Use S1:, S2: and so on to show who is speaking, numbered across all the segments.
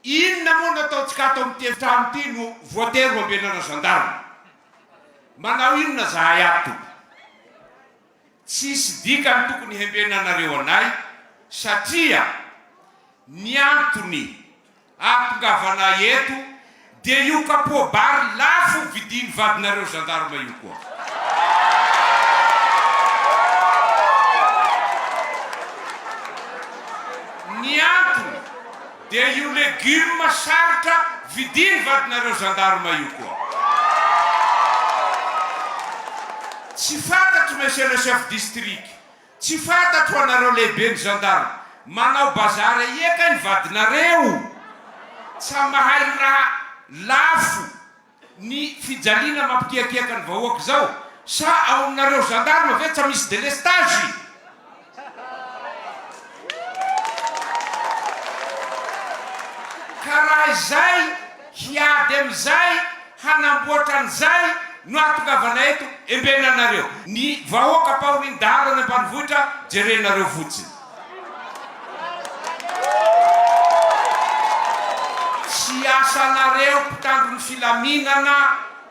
S1: Inona moa no ataontsika ato amin'ity efitrano ity no voatery ho ambenana gendarme? Manao inona zahay ato tompoko? Tsisy dikany tokony hembenanareo anay satria ny antony ahatongavanay eto Dia io capot bar lafo vidiny vadinareo gendarme io koa. Ny antony dia io legume sarotra vidiny vadinareo gendarme io koa. Tsy fantatro monsieur le chef district Tsy fantatro anareo lehibe ny gendarme manao bazary aia kay ny vadinareo tsa mahay raha lafo ny fijaliana mampikiakiaka ny vahoaka zao sa ao aminareo gendarme ve tsa misy delestage? Ka raha izay Hiady amin'izay, hanamboatra an'izay no ahatongavana eto, embenana anareo. Ny vahoaka ampahorian'ny dahalo any ambanivohitra jerenareo fotsiny. Tsy asanareo mpitandro ny filaminana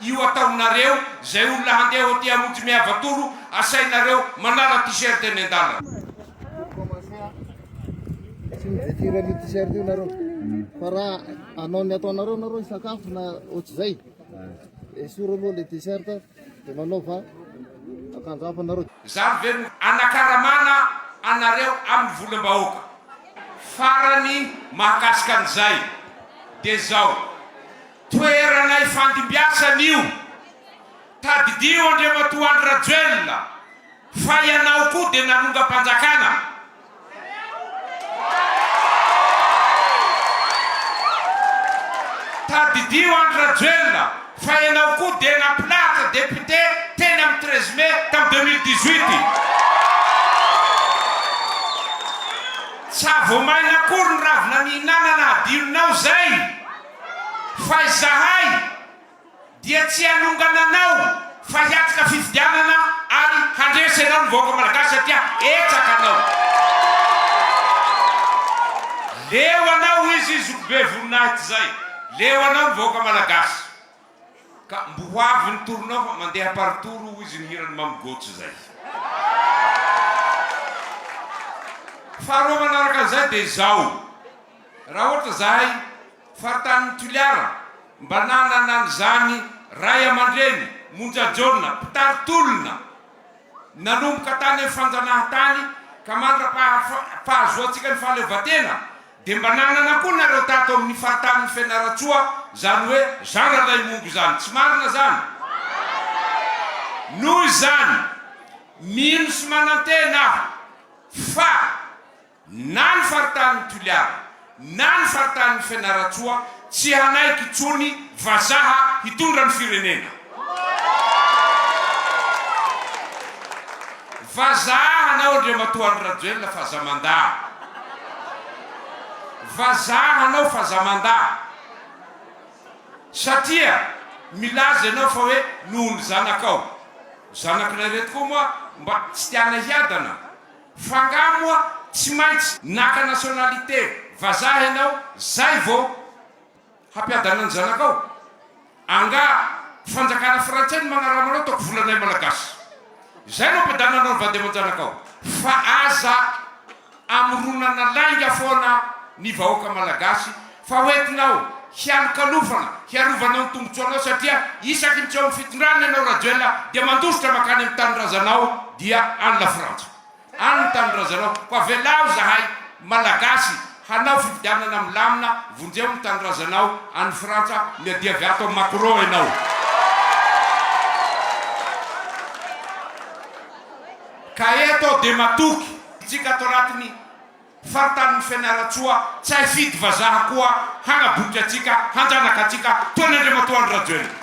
S1: io ataonareo, izay olona handeha hoaty hamonjy miava toro asainareo manala t-shirt eny
S2: an-dalana. Anao ny ataonareo nareo hisakafo na ohatr'izay. Esoro aloha le dessert de manaova akanjo hafa nareo. Zany ve no
S1: anakaramana anareo aminy volambahoaka? Farany mahakasika an'izay de zao, toerana ifandimbiasana io, tadidio Andriamatoa Andry Rajoelina. Fa ianao koa dia nanongam-panjakana. Tadidio Andry Rajoelina fa ianao koa dia nampilahatra député teny amin'ny treize mai tamin'ny deux mille dix huit. Tsy aho vao maina akory ny ravina nihinanana hadinonao izay fa izahay. Dia tsy hanongana anao fa hiatrika fifidianana ary handresy anao ny vahoaka Malagasy satria hetsaka anao. Leo anao hoy izy zokibe voninahitra zay. Leo anao ny vahoaka Malagasy. Ka mbo ho avy ny tournao fa mandeha par tour hoy izy ny hiran'i Mamy Gojo zay. Faharoa manaraka an'izay dia izao. Raha ohatra zahay. Fahatan'ny Toliara mba nanana an'izany ray aman-dreny monja jaona mpitari-tolona nanomboka tany amin'ny fanjanahantany ka mandra-pahazoantsika ny fahaleovantena dia mba nanana koa nareo tato amin'ny faritanin'i Fianarantsoa izany hoe Jean Ralaimongo izany. Tsy marina izany? Noho izany, mino sy manantena aho fa. na ny faritanin'i Toliara na ny faritanin'i Fianarantsoa tsy hanaiky intsony vazaha hitondra ny firenena. Vazaha hanao Andriamatoa Andry Rajoelina fazamandà. Vazaha hanao fazamandà. Satria milaza ianao fa hoe noho ny zanakao. Zanak'ilay reto koa moa mba tsy tiana hiadana. F'angaha moa tsy maintsy naka nationalité vazaha ianao zay vao hampiadana ny zanakao? Angaha fanjakana frantsay no magnarama anao ataoko volanay malagasy zay no ampiadananao ny vady aman-janakao? Fa aza amoronana lainga foana ny vahoaka malagasy Fa hoentinao hialokalofana hiarovanao ny tombotsoanao satria isaky ny tsy ao amin'ny fitondrana ianao Rajoel dia mandositra mankany amin'ny tanindrazanao dia any Lafrantsa any ny tanindrazanao koa avelao zahay Malagasy hanao fifidianana milamina vonjeo ny tanindrazanao any Frantsa miadiavy ato amin'i Macron ianao. Ka eto aho dia matoky. Tsika ato anatin'ny. Faritanin'i Fianarantsoa, tsy hay fidy vazaha koa, hanaboky antsika, hanjanaka antsika, toy ny Andriamatoa Andry Rajoelina.